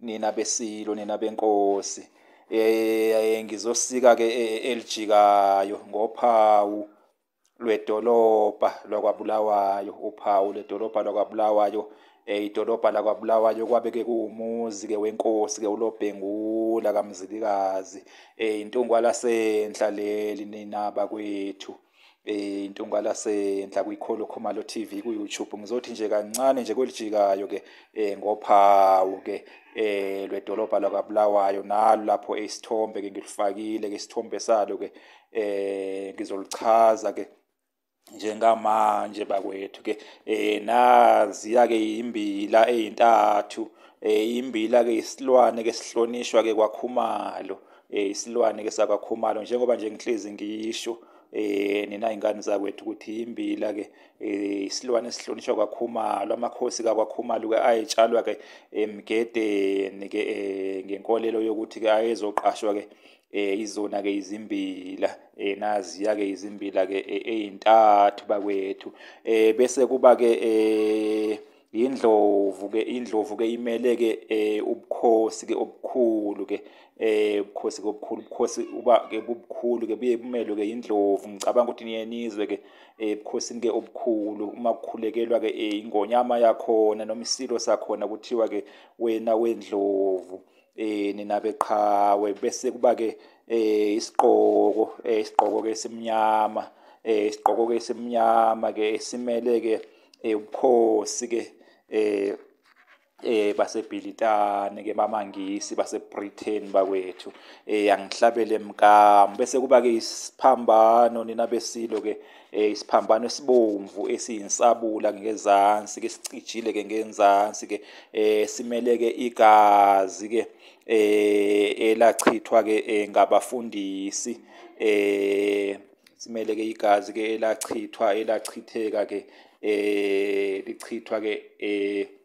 nina besilo nina benkosi eh ngizosika ke eh, elijikayo ngophawu lwedolobha lwakwabulawayo uphawu ledolobha lwakwabulawayo eh idolobha lakwabulawayo kwabe ke kuwumuzi ke wenkosi ke ulobhengula kamzilikazi eh intungwa lasenhla leli ninaba kwethu eh intungwala senhla kwikholo Khumalo TV ku YouTube ngizothi nje kancane nje kwelijikayo ke eh ngophawu ke eh lwedolobha lakwaBulawayo nalo lapho isithombe ke ngilifakile ke isithombe salo ke eh ngizolichaza ke njengamanje bakwethu ke eh naziya ke imbila ezintathu eh imbila ke isilwane ke sihlonishwa ke kwakhumalo eh, isilwane ke sakwakhumalo njengoba nje ngihlezi ngiyisho eh nina ingane zakwethu ukuthi imbila ke eh, isilwane esihlonishwa kwakhumalo amakhosi kakwakhumalo ke ayetshalwa ke emgedeni ke eh, ngenkolelo yokuthi ke ayezoqashwa ke eh izona ke izimbila eh naziya ke izimbila ke eh, ezintathu bakwethu eh bese kuba ke eh indlovu ke indlovu ke imele ke eh ubukhosi ke obukhulu ke eh ubukhosi ke obukhulu ubukhosi uba ke bubukhulu ke buye bumelwe ke indlovu ngicabanga ukuthi niyenizwe ke eh ubukhosini ke obukhulu uma kukhulekelwa ke eh, ingonyama yakhona noma isilo sakhona kuthiwa ke wena wendlovu eh nina beqhawe bese kuba ke eh isiqoko eh isiqoko ke simnyama eh isiqoko ke simnyama ke simele ke eh ubukhosi ke eh eh baseBhilitane ke bamangisi baseBritain bakwethu eh angihlabele mkamu bese kuba ke isiphambano nina besilo ke eh isiphambano esibomvu esiyinsabula ngezansi ke sicijile ke ngenzansi ke eh simele ke igazi ke eh elachithwa ke eh, ngabafundisi eh simele ke igazi ke elachithwa elachitheka ke eh lichithwa ke eh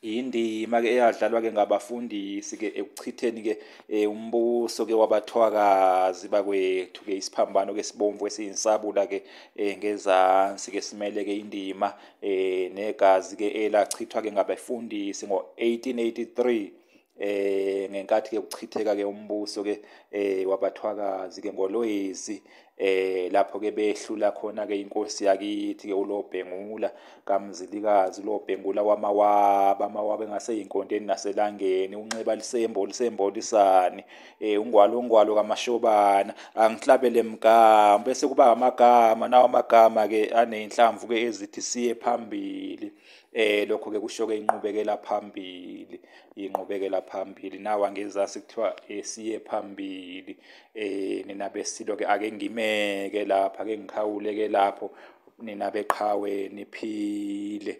indima ke eyadlalwa ke ngabafundisi ke ekuchitheni ke eh, umbuso ke wabathwakazi bakwethu ke isiphambano ke sibomvu esiyinsabula ke eh, ngezansi ke simele ke indima eh, negazi ke elachithwa ke ngabefundisi ngo 1883 eh ngenkathi ke kuchitheka ke umbuso ke eh wabathwakazi ke ngolwezi eh lapho ke behlula khona ke inkosi yakithi ke ulobhengula kamzilikazi ulobhengula wamawaba amawaba engase inkondeni naselangeni unxeba lisembo lisembolisani eh ungwalo ungwalo kamashobana angihlabele mgama bese kuba amagama nawo amagama ke anenhlamvu ke ezithi siye phambili eh lokho ke kusho ke inqubekela phambili inqubekela phambili nawa ngezansi kuthiwa esiye eh, phambili eh nina besilo ke ake ngimeke lapha ke ngikhawule ke lapho nina beqhawe niphile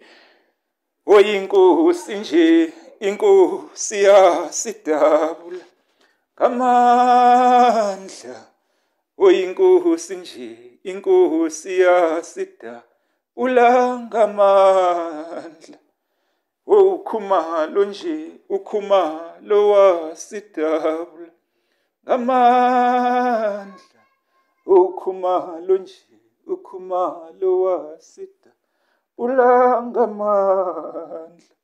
oyinkosi nje inkosi yasidabula ngamandla oyinkosi nje inkosi yasidabula ulangamandla ukhumalo nje ukhumalo wasidabula ngamandla ukhumalo nje ukhumalo wasidabula ngamandla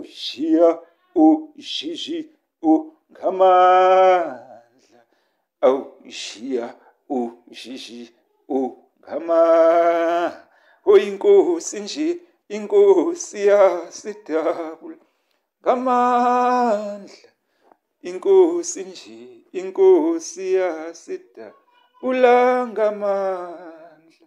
ushiya ushiji ungamandla awushiya ushiji ungamandla oyinkosi nje inkosi yasidabula ngamandla inkosi nje inkosi yasidabula ngamandla